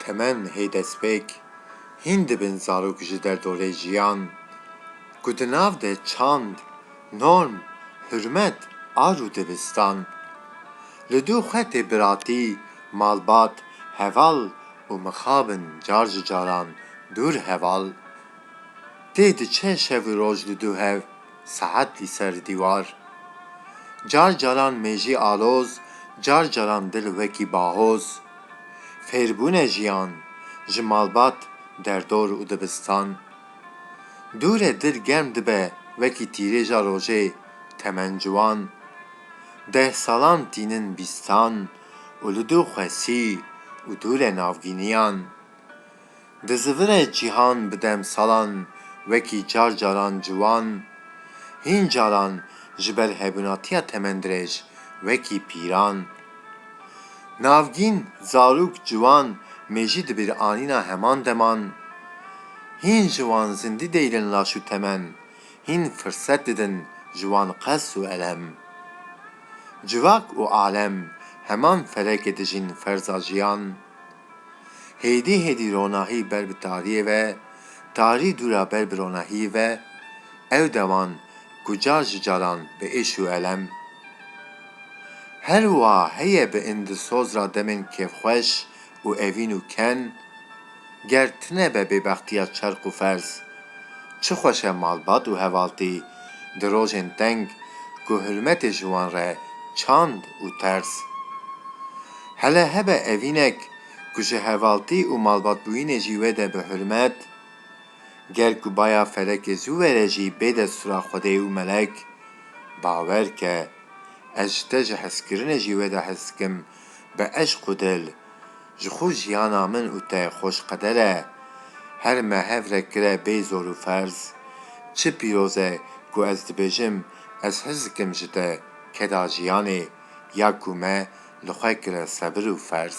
Temen hê destpêk hîn dibin zarok ji derdorê jiyan ku di nav de çand, norm, hurmet a rû dibistan. Li du xwetê biratî, malbat, heval û mixabin car ji caran dûr heval. Tê diçe şev û roj li du hev. Saet li ser dîwar. Car caran mêjî aloz, car caran dil wekî bahoz. Fêrbûne jiyan, ji malbat derdor û dibistan. Dûre dil germ dibe wekî tîrêja rojê, temen ciwan. Deh salan tînin bîstan û li dû xwesî û dûre navgîniyan. Di zivire cîhan bi demsalan wekî car caran ciwan, hîn caran ji ber hevûnatiya temendirêj wekî pîran. Navgîn, zarok, ciwan mêjî di bîr anîna heman deman. Hîn ji wan zindî deyilin laş û temen, hîn firset didin ji wan qes û elem. Civak û alem heman ferekê dijîn ferza jiyan. Hêdî hêdî ronahî ber bi tariyê ve, tarî dûra ber bi ronahiyî ve, ew deman ku car ji caran bi êş û elem. Her wiha heye bi indisoz ra demên kêfxweş û evîn û ken, ger tine be bêbextiya çerq û ferz. Çi xweş e malbat û hevaltî di rojên teng ku hurmetê ji wan re çand û ters. Hele hebe evînek ku ji hevaltî û malbatbûyînê jî wê de bi hurmet. Ger ku baya felekê zû were jî bê destûra Xwedê û melek. Bawer ke, ez ji te ji hezkirinê jî wê de hez dikim, bi eşq û dil. Ji xwe jiyana min û te xweş qeder e. Her me hev re kire bê zor û ferz. Çi pîroz e ku ez dibêjim, ez hez dikim ji te, keda jiyanê. ya ku me li xwe kire sebir û ferz.